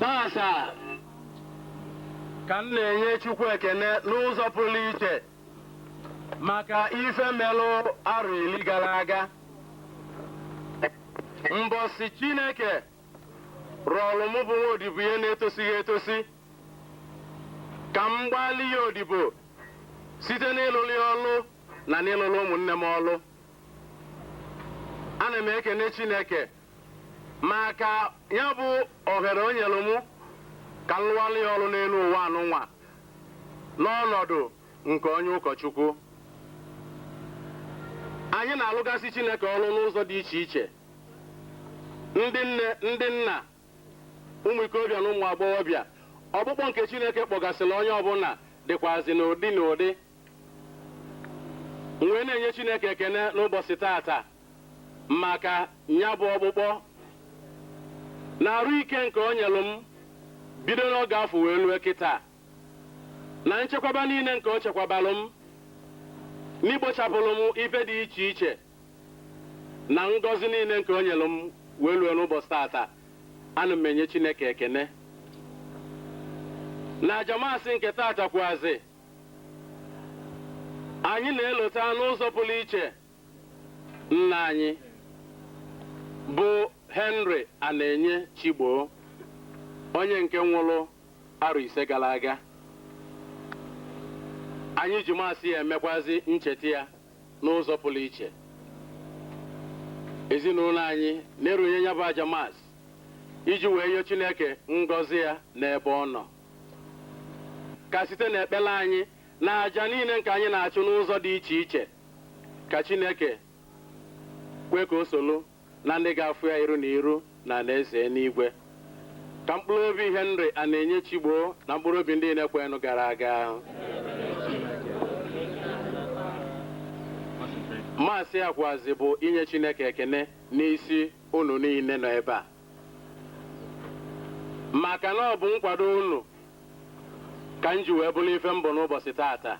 Tata ka m na-enye Chukwu ekene n'ụzọ pụlụ iche maka ife melụ arọ iri galụ aga mbọsị Chineke rọlụ mụ bụ nwa odibo ya na-etosighị etosi ka m gbaalụ ya odibo site n'ịlụlụ ya ọlụ na n'ịlụlụ ụmụnne m ọlụ ana m ekene Chineke maka nya bụ ohere o nyelụ mụ ka m lụọlụ ya ọrụ n'elu ụwa anụnwa n'ọnọdụ nke onye ụkọchukwu anyị na-alụgasị Chineke ọrụ n'ụzọ dị iche iche ndị nne ndị nna ụmụ ikorobịa na ụmụ agbọghọbịa ọkpụkpọ nke Chineke kpọgasịlị onye ọbụna dịkwazi n'ụdị n'ụdị m wee na-enye Chineke ekene n'ụbọchị taata maka nya bụ ọkpụkpọ na arụ ike nke o nyelụ m bido n'oge afọ wee lue kịta na nchekwaba niile nke o chekwabalụ m n'igbochapụlụ m ife dị iche iche na ngọzi niile nke o nyelụ m wee lue n'ụbọchị tata ana m enye Chineke ekene na aja Mass nke tata kwuazị anyị na-elota n'ụzọ pụlụ iche Nna anyị bụ Henry Anaenye Chigbo, onye nke nwụlụ arọ ise galụ aga, anyị ji Mass a emekwazị ncheta ya n'ụzọ pụlụ iche. Ezinụlọ anyị na-erunye nya bụ aja Mass iji wee yọọ Chineke ngọzi ya n'ebe ọ nọ. Ka site n'ekpere anyị na aja niile nke anyị na-achụ n'ụzọ dị iche iche, Ka Chineke kwee ka o solu na ndị ga-afụ ya iru na iru n'anaeze enuigwe. Ka mkpụlụ obi Henry Anaenye Chigbo na mkpụrụ obi ndị niile kwerenụ gara aga. Mass a kwuazị bụ inye Chineke ekene n'isi unu niile nọ ebe a maka na ọ bụ nkwado unu ka m ji wee bụlụ ife m bụ n'ụbọchị tata.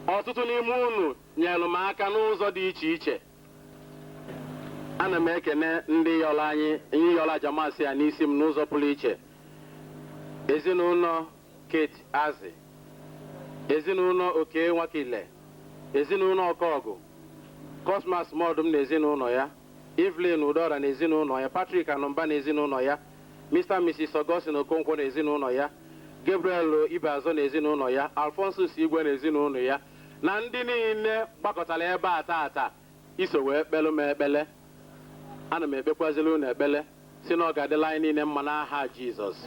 Ọtụtụ n'ime unu nyeelụ m aka n'ụzọ dị iche iche. Ana m ekene ndị yọlụ ayịyọ aja Mass a n'isi m n'ụzọ pụlụ iche, ezinụnọ Kate Azi, ezinụnọ Okey Nwakile, ezinụnọ Okagu, Cosmas Modum na ezinụnọ ya, Evelyn Udora na ezinụnọ ya, Patrick Anumba na ezinụnọ ya, Mister and Misis Augustine Okonkwo na ezinụnọ ya, Gabriel Ibeazo na ezinụnọ ya, Alphonsus Igwe na ezinụnọ ya, na ndị niile gbakọtara ebe a taata iso wee kpelu m ekpele. Ana m ekpekwaziri unu ekpele sị na ọ ga-adịrị anyị niile mma n'aha Jizọs.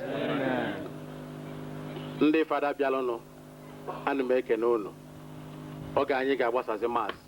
Ndị Fada bịaranụ, ana m ekene unu. Oge anyị ga-agbasazi Mass.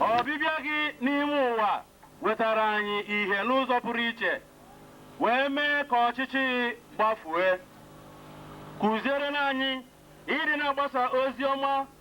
ọbịbịa gị n'ime ụwa wetara anyị ihe n'ụzọ pụrụ iche wee mee ka ọchịchịrị gbafue kuziere anyị ịdị na-agbasa ozi ọma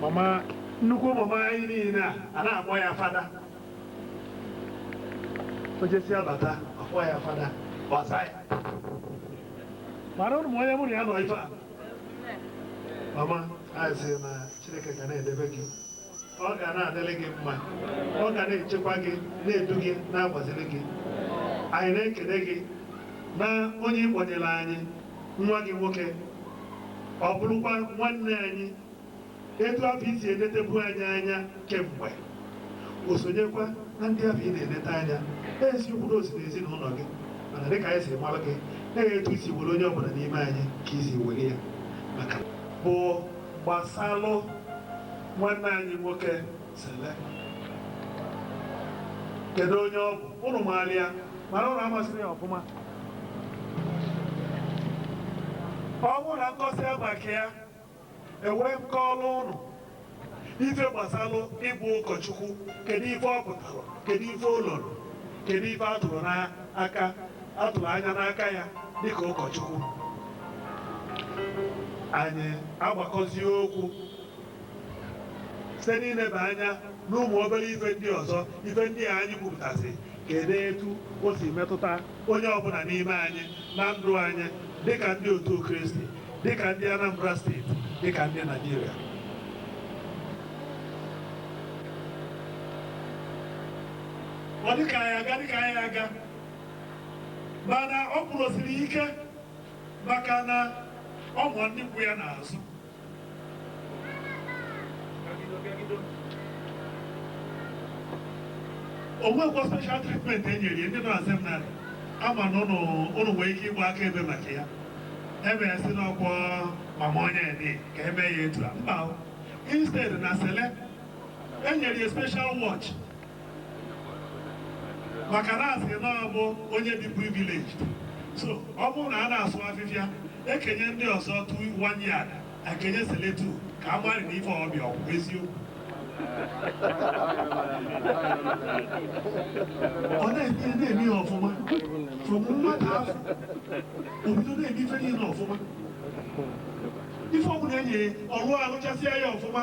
mama nnukwu mama anyị niile a a na-akpọ ya fada o jesịa bata a kpọọ ya fada gbasa ya mara ụnụ ma onye mụ na ya nọ ife a mama anyị sị na chineke ga na-edebe gị ọ ga na-adịrị gị mma ọ ga na-echekwa gị na-edu gị na-agbaziri gị anyị na-ekene gị na onye ị kpọnyere anyị nwa gị nwoke, ọ bụrụkwa nwanne anyị, etu afụ i si enetebu anyị anya kemgbe, o sonyekwa na ndị afụ ị na-enete anya. Eziokwu na o si n'ezinụnọ gị, mana dịka anyị si mara gị, na etu i si were onye ọbụna n'ime anyị ka i si were ya. Maka bụ gbasalụ nwanne anyị nwoke Sele. Kedu onye ọ bụ? Ụnụ maara ya, mana ụnụ amasịrọ ya ọfụma. ọ bụrụ na m kọsịa maka ya e wee m kọọrọ ụnụ ife gbasalụ ịbụ ụkọchukwu kedu ife ọ pụtara kedu ife ọ lụrụ kedu ife a tụrụ n'aka a tụrụ anya n'aka ya dịka ụkọchukwu anyị agbakọzie okwu site n'ileba anya n'ụmụ obere ife ndị ọzọ ife ndị a anyị kwupụtasị kedu etu o si metụta onye ọbụna n'ime anyị na ndụ anyị dịka ndị otu kristi dịka ndị anambra steeti dịka ndị naijiria ọ dịka anyị aga dịka anyị aga mana ọ kwụrụsiri ike maka na o nwere ndị kwụ ya n'azụ o nwekwa special treatment e nyere ya ndị nọ na seminarị ama na ụnụ ụnụ nwere ike ịgba akaebe maka ya ebe ya si n'ọkwọ mama onye dị ka e mee ya etu a mba o. instead na sele e nyere ya special watch maka na asị na ọ bụ onye dị privileged so ọ bụrụ na a na-asụ afịfịa ekenye ndị ọzọ two one yard ekenye Cele two ka a mara na ife ọbụla ọ bụ eziokwu ọ na-eme na-eme ya ọfụma from nwata afụ obido na-eme ife niile ọfụma ife ọbụla enye ọrụ arụchasịa ya ọfụma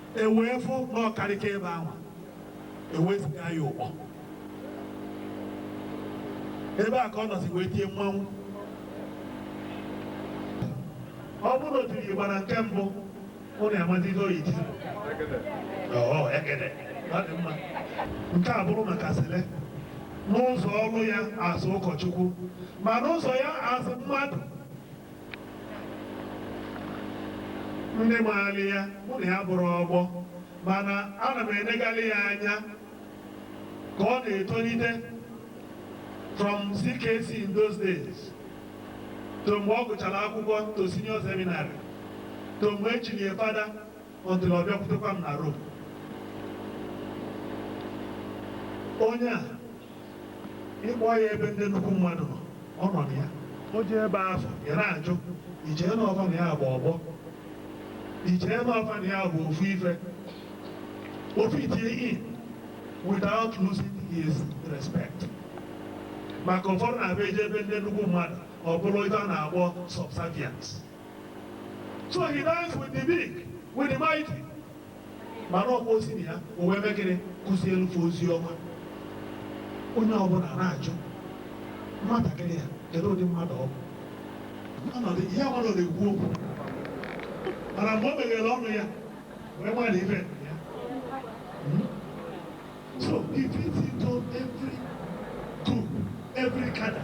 e wee fụ na ọ karịka ebe ahụ e wee ziga ya Ụkpọ ebe a ka ọ nọzi wee tie mmanwụ ọ bụrụ na o tiri igba na nke mbụ ụnụ amazizi oyi ti ọọ ekene ọ dị mma nke a bụrụ maka Cele n'ụzọ ọrụ ya azụ ụkọchukwu ma n'ụzọ ya azụ mmadụ ndị maara ya mụ na ya abụrọ ọgbọ mana ana m enegalị ya anya ka ọ na-etolite from CKC in those days to mgbe ọ gụchara akwụkwọ to senior seminary to mgbe e chiri ya fada until ọ bịakwutekwa m na Rome. Onye a ị kpọ ya ebe ndị nnukwu mmadụ nọ ọ nọ na ya o jee ebe afụ ị na-ajụ i chee na ọ fa na ya bụ ọgbọ i chee na ọ fa na ya bụ ofu ife ọ fit in without losing his respect maka ụfọdụ na-abụ e jee ebe ndị nnukwu mmadụ ọ bụrụ ife a na-akpọ subservience so he dines with the big with the mighty mana ọ kwa o si na ya o wee mee gịnị kụzielụ fa ozi ọma onye ọbụla na-ajụ nwatakịrị a kedu ụdị mmadụ ọ bụ ọ nọdụ ihe ọ nọ na-ekwu okwu mana mgbe o meghere ọnụ ya wee mara na ife ya so he fits into every group every cadre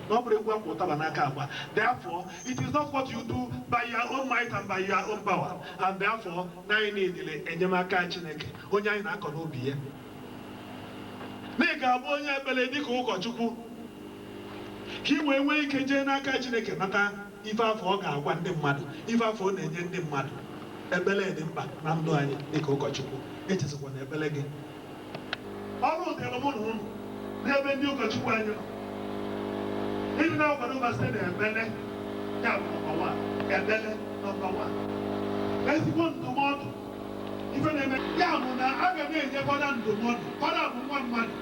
na ọ bụrọ egwu akwa ụtaba n'aka agba, therefore it is not what you do by your own might and by your own power and therefore na anyị needịrị enyemaka Chineke onye anyị na-akọ n'ubi ya. Na ị ga-abụ onye ekpere dịka ụkọchukwu ka ị wee nwee ike jee n'aka Chineke nata ife afụ ọ ga-agwa ndị mmadụ, ife afụ ọ na-enye ndị mmadụ. Ekpere dị mkpa na ndụ anyị dịka ụkọchukwu, echezikwana ekpere gị. ọrụ dịrị mụ na unu n'ebe ndị ụkọchukwu anyị nọ ịdị na-akwado fa site na ekpere ya bụ number one ekpere number one ezigbo ndụmọdụ ife na-eme ya bụ na a ga na-enye fada ndụmọdụ fada bụ nwa mmadụ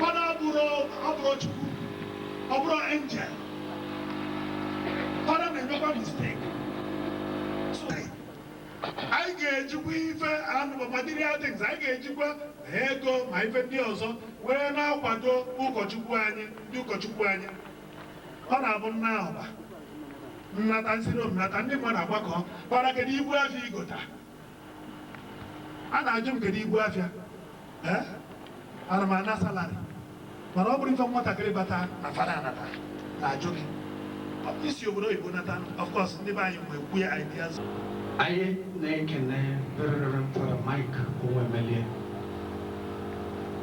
fada abụrọ abụrọ Chukwu ọ bụrọ angel fada na-emekwa mistake anyị ga-ejikwa ife material things anyị ga-ejikwa ego ma ife ndị ọzọ wee na-akwado ụkọchukwu anyị ndị ụkọchukwu anyị ọ na-abụ nna ahụba nnata m si Rome nata ndị mmadụ agbakọbara kedu ibu afịa i gota a na-ajụ m kedu ibu afịa Eh? ana m ana salary mana ọ bụrụ ife nwatakịrị bata na fada anata na-ajụ gị Ọ bụ i si obodo oyibo nata of course ndị be anyị mgbe kwue ideas anyị na-ekene Very Reverend Fada Mike Onwuemelie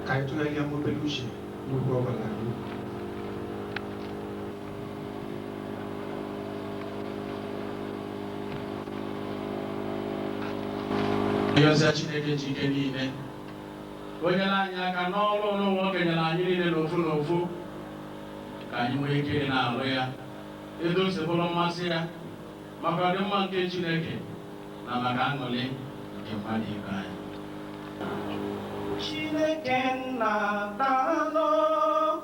ka anyị tụgharịa obele uche n'ugwu ọbala Ịrịọsịa Chineke ji ike niile ka o nyere anyị aka n'ọrụ nwa o kenyere anyị niile n'ofu n'ofu ka anyị nwee ike ịdị na-arụ ya etu o si bụrụ mmasị ya maka ọdịmma nke Chineke na maka aṅụrị nke mmadụ ibe anyị Chineke nna daalụ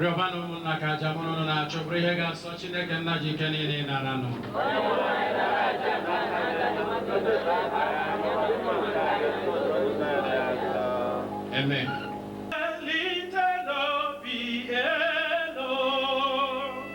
rịọbanụ ụmụnna ka aja mụ na ụnụ na-achụ bụrụ ihe ga-asọ Chineke nna ji ike niile ịnara nụ Amen. Welitenụ obi elu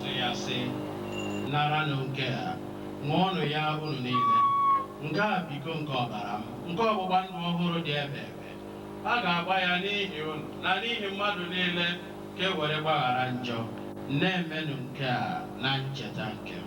sị ya sị naranụ nke a ṅụọnụ ya unu niile nke a bụ iko nke ọbara m nke ọgbụgba ndụ ọhụrụ dị ebebe a ga-agba ya n'ihi unu na n'ihi mmadụ niile ka e were gbaghara njọ na-emenụ nke a na ncheta nke m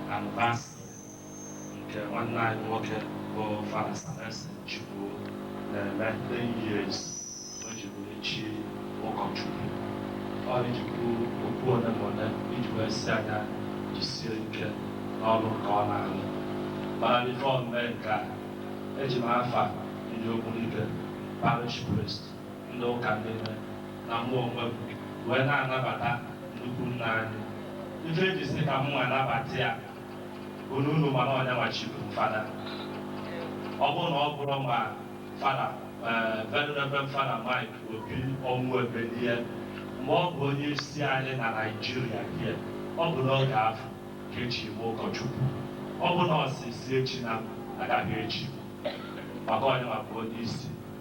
anniversary nke nwanne anyị nwoke bụ Fada Salensi Chukwu na-eme 10 years o ji bụrụ chi ụkọchukwu ọ iji kwuo okwu ole ma ole iji wee sị ya nya jisie ike n'ọlụ nke ọ na-alụ mana before m mee nke a eji m afa ndị okwulite parish priest ndị ụka niile na mụ onwe m wee na-anabata nnukwu nna anyị. Ife e ji sị ka mụnwa nabata ya bụ na unu ma na ọ nyanwa chiri m Fada. Ọ bụrụ na ọ bụrọ ma Fada eh, Very Reverend Fada Mike Obi Onwuemelie mgbe ọ bụ onye isi anyị na Naịjirịa here ọ bụ n'oge afụ ka e chiri m ụkọchukwu ọ bụ na ọ sị sị echina m agaghị echi maka ọ nyanwa bụ onye isi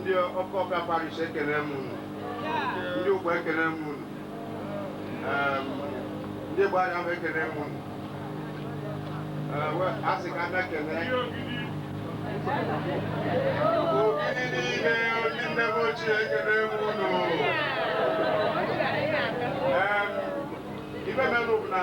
ndị ọkụ ọka parish ekene m unu ndị Uga ekene m unu Em, ndị gbara m ekene m unu Eh, we- a sị ka abịa kenee Ogidi niile ndị nne m ochie ekene m unu Em, ife mere bụ na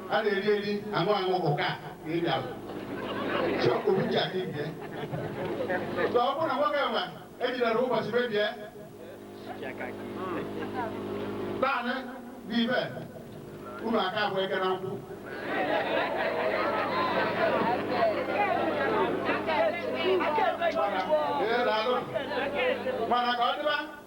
a na-eri eri aṅụ aṅụ ụka ka ị bịara chọpụ uche aka ibie so ọ bụrụ na nwoke nwa ejidere ụbọchị mebie naanị bụ ibe unu aka abụ eke na nkwụ Ee, daalụ. mana ka ọ dịba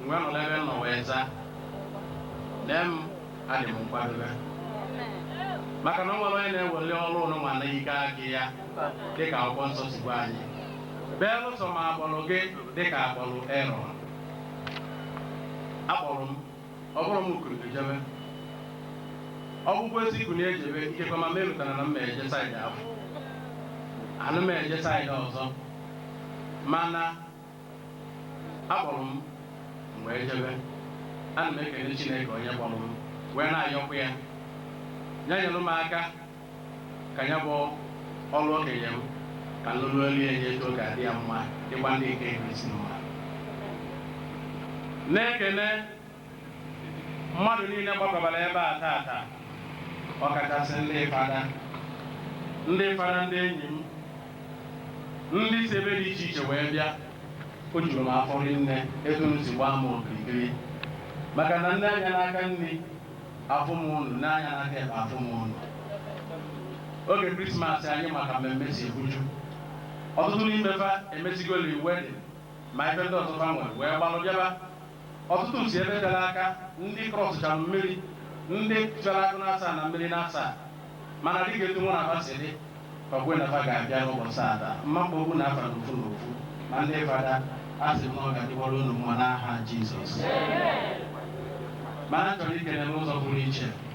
M wee nọrọ ebe m nọ wee zaa, Lee m, adị m nkwadobe. Maka na o nwere onye na-eweli ọrụ nunwa n'ike aka ya dị ka akwụkwọ nsọ si gwa anyị. Belụsọ ma akpọrọ gị dị ka akpọrọ Erọn. Akpọrọ m, ọ bụrụ m kunie jebe. Ọ bụkwa ezi ikwu na-ejebe ikekwe ma merụtara na m na-eje side afụ. Ana m eje side ọzọ. Mana akpọrọ m m wee jebe ana m ekene Chineke onye kpọrọ m wee na-ayọkwa ya ya nyere m aka ka ya bụ ọrụ o kenye m ka nlụrụ elu ya nye etu ọ ga-adị ya mma dịkwa ndị nke Kristi mma na-ekene mmadụ niile gbakọbara ebe a tata ọkachasị ndị fada ndị fada ndị enyi m ndị si ebe dị iche iche wee bịa o juru m afọ nne etu unu si gbaa m okirikiri maka na m nee anya n'aka nri afụ m unu nee anya n'aka ekpe afụ m unu oge krismas anyị ma ka mmemme si ebuju ọtụtụ n'ime fa emesigolị wedding ma ife ndị ọzọ fa nwere wee gbalụ bịaba Ọtụtụ si ebe tere aka, ndị crossụchara mmiri, ndị fere agụ n'asaa na mmiri n'asaa. Mana dịka etu mụ na fa si dị, fa kwe na fa ga-abịa n'ụbọchị taata. M ma-akpọ unu afa n'ofu n'ofu. Ma ndị fada, a sị m na ọ ga-adịwara unu mma n'aha Jizọs. Mana m chọrọ ikene n'ụzọ pụrụ iche.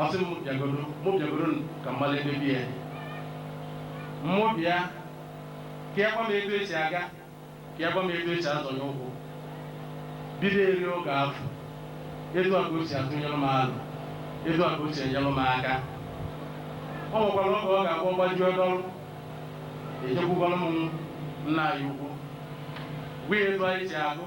ọ sị m bịagodo mụ bịagodo ka m malụ ebe o bi ya mụ bịa ka ya gwa m etu esi aga ka ya gwa m etu esi azọnye ụkwụ bido eri oge afụ etu a ka o si atụnyere m alo etu a ka o si enyere m aka ọ nwekwara oge ọ ga-abụ ọ gbajuo dọrụ ejekwukwara m nna anyị ukwu gwa ya etu anyị si agụ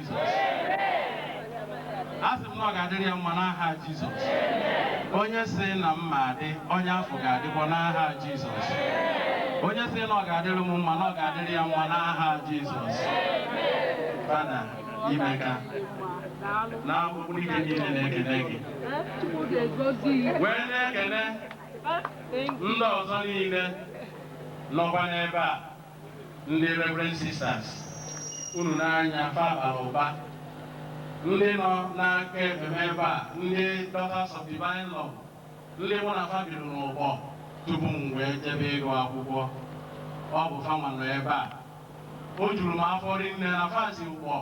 asị m na ọ ga-adịrị ya mma n'aha Jizọs onye sị na m ma adị onye afụ ga-adịkwa n'aha Jizọs onye sị na ọ ga-adịrị m mma na ọ ga-adịrị ya mma n'aha Jizọs fada imeka na akwụkwọ ike niile na-ekele gị wee na-ekene ndị ọzọ niile nọkwa n'ebe a Ndị Reverend Sisters, unu nee anya, fa bara ụba. Ndị nọ n'aka ekpe m ebe a, ndị Daughters of Divine Love, ndị mụ na fa biri n'Ụkpọ tupu m wee jebe ịgụ akwụkwọ, ọ bụ fanwa nọ ebe a. O juru m afọ rinne na fa si Ụkpọ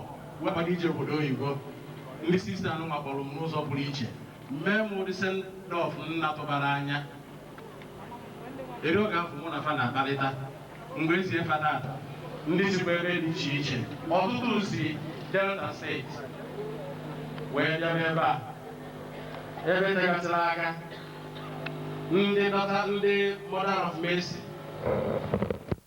wee gbaga ije obodo oyibo. Ndị Sista nụnwa kpọrọ m n'ụzọ pụrụ iche, mee m ụdị send-off m na-atụbarọ anya. Eri oge afụ mụ na fa na-akparịta, m wee zie fa na ndị sikwa ebe dị iche iche, ọtụtụ si Delta steeti wee bịaba ebe a. Ebe tegasịrị aka, ndị Daughter ndị Mother of Mercy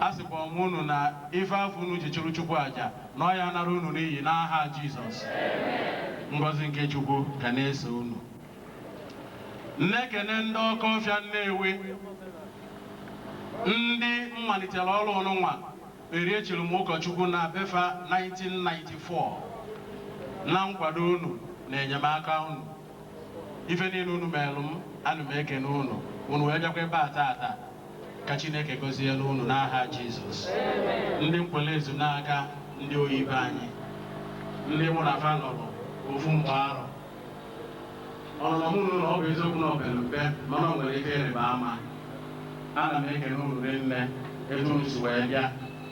Asịkwa m unu na ife afụ unu ji chụrụ Chukwu aja, na ọ ya anara unu n'iyi n'aha Jisọs. Ngọzi nke Chukwu ga na-eso unu. Na-ekene ndị Ọkọfịa Nnewi, ndị m malitere ọrụ nụnwa eri e chiri m ụkọchukwu na be fa 1994 na nkwado unu na enyemaka unu. Ife niile unu meelụ m, ana m ekene unu, unu wee bịakwa ebe a taata. Ka Chineke gọzielu unu n'aha Jizọs. Ndị Nkwelle Ezunaka, ndị oyi be anyị, ndị mụ na fa nọlụ ofu mgba arọ. Ọnụnọ mụ na unu ọ bụ eziokwu na ọ pere mpe mana o nwere ife ịrịba ama. Ana m ekene unu rinne etu unu si wee bịa.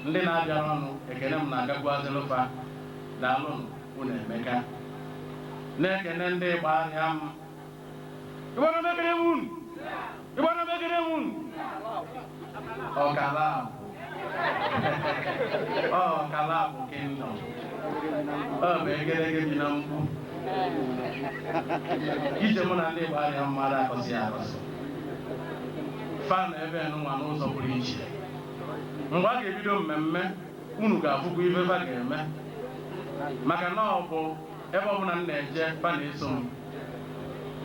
Ndị na-abịarọ nụ, ekene m na-agakwuazịlụ fa. Daalụnụ. Unu emeka. Na-ekene ndị Igbariam. Igbariam ekene m unu. Igbariam ekene m unu. Ọkalakwu. Ọ Ọkalakwu kingdom. Ọ bụ egerege bi na mkpu. Ije mụ na ndị Igbariam arọ akọsị akọsị. Fa nọ ebe nụnwa n'ụzọ pụrụ iche. Mgbe a ga-ebido mmemme unu ga-afụkwa ife fa ga-eme maka na ọ bụ ebe ọbụla m na-eje fa na-eso m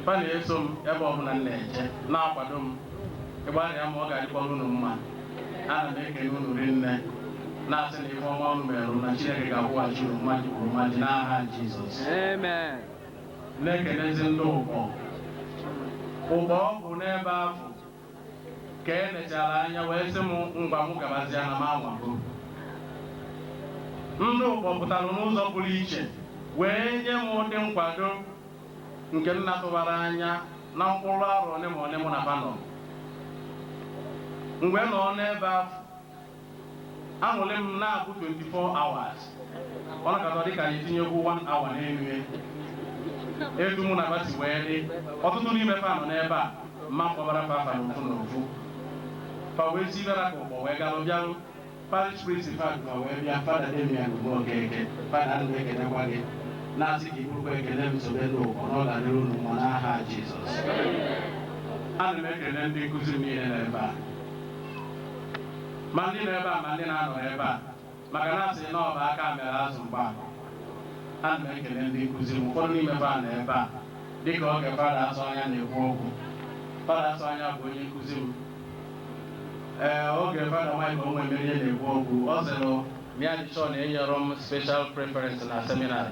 fa na-eso m ebe ọbụla m na-eje na-akwado m Igbariam ọ ga-adịkwara unu mma ana m ekene unu rinne na-asị na ife ọma unu merụ na Chineke ga-akwụghachi unu mmaji kwuru mmaji n'aha Jizọs Amen. na-ekenezi ndị Ụkpọ Ụkpọ ọ bụ n'ebe afụ Ka e lechara anya wee sị m ngwa mụ gabazịa na m anwago. Ndị Ụkpọ pụtara n'ụzọ pụrụ iche wee nye m ụdị nkwado nke m na-atụbarọ anya na mkpụrụ arọ ole ma ole mụ na fa nọrọ. M wee nọrọ n'ebe ahụ Aṅụlị m na-abụ 24 hours. Ọ nakọta dịka anyị tinyekwu 1 hour n'elu ya. Etu mụ na fa si wee dị, ọtụtụ n'ime fa nọ n'ebe a, mma akpọbara fa afa n'ofu n'ofu. Fa wee si ebe ra ka Ụkpọ wee galụ bịarụ. Parish priest fa du fa wee bịa, Fada Damian Umeokeke, Fada ana m ekenekwa gị, na-asị ka i burukwa ekele m sobe ndị Ụkpọ na ọ ga-adịrị unu mma n'aha Jizọs. Ana m ekene ndị nkụzi m niile nọ ebe a. ma ndị nọ ebe a ma ndị na-anọrọ ebe a maka na a sị na ọ bụ aka mere azụ mgba ana m ekene ndị nkụzi m ụfọdụ n'ime fa nọ ebe a dịka oge fada Asọanya na-ekwu okwu fada Asọanya bụ onye nkụzi m ee oge fada Mike Onwuemerie na-ekwu okwu ọ sịrị na ya dị sure na enyerọ m special preference na seminary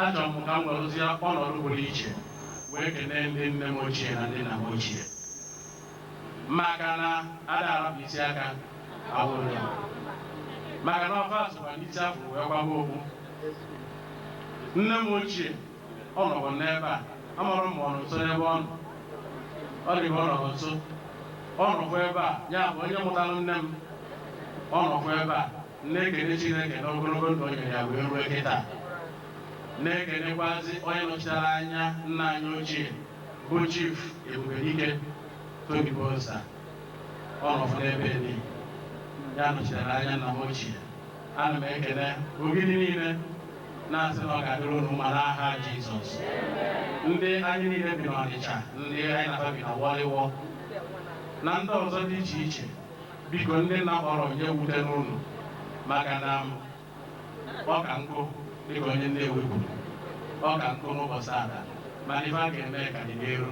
Achọrọ m ka m werụzie ọnọdụ pụrụ iche wee kenee ndị nne m ochie na ndị nna m ochie maka na a da arapụ isi aka agba ụrịọ maka na ọ fa sokwa n'isi a fụ wee kwaba okpu. Nne m ochie ọ nọkwa n'ebe a, amarọ m ma ọ nọ nso n'ebe ọ nọ. Ọ dị ka ọ nọrọ nso. Ọ nọkwa ebe a, ya bụ onye mụtara nne m, ọ nọkwa ebe a. Na-ekene Chineke na ogologo ndụ o nyere ya wee ruo kịta. Na-ekenekwazi onye nọchitere anya nna anyị ochie bụ Chief Ebubedike Tony Bosa. Ọ nọfụ n'ebe ni ya nọchitere anya nna m ochie. Ana m ekene Ogidi niile na-asị na ọ ga-adịrị unu mma n'aha Jizọs. Ndị anyị niile bi n'Ọnịcha, ndị anyị na fa bi na Wọlịwọ, na ndị ọzọ dị iche iche Biko ndị m na-akpọrọ ya ewutena unu maka na m ọ ka nkụ dịka onye ndị ewepụ ọ ka nkụ n'ụbọchị ada mana ife a ga-eme ka dị n'iru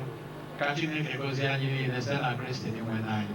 ka Chineke gozie anyị niile site na Kristi Dinwenụ anyị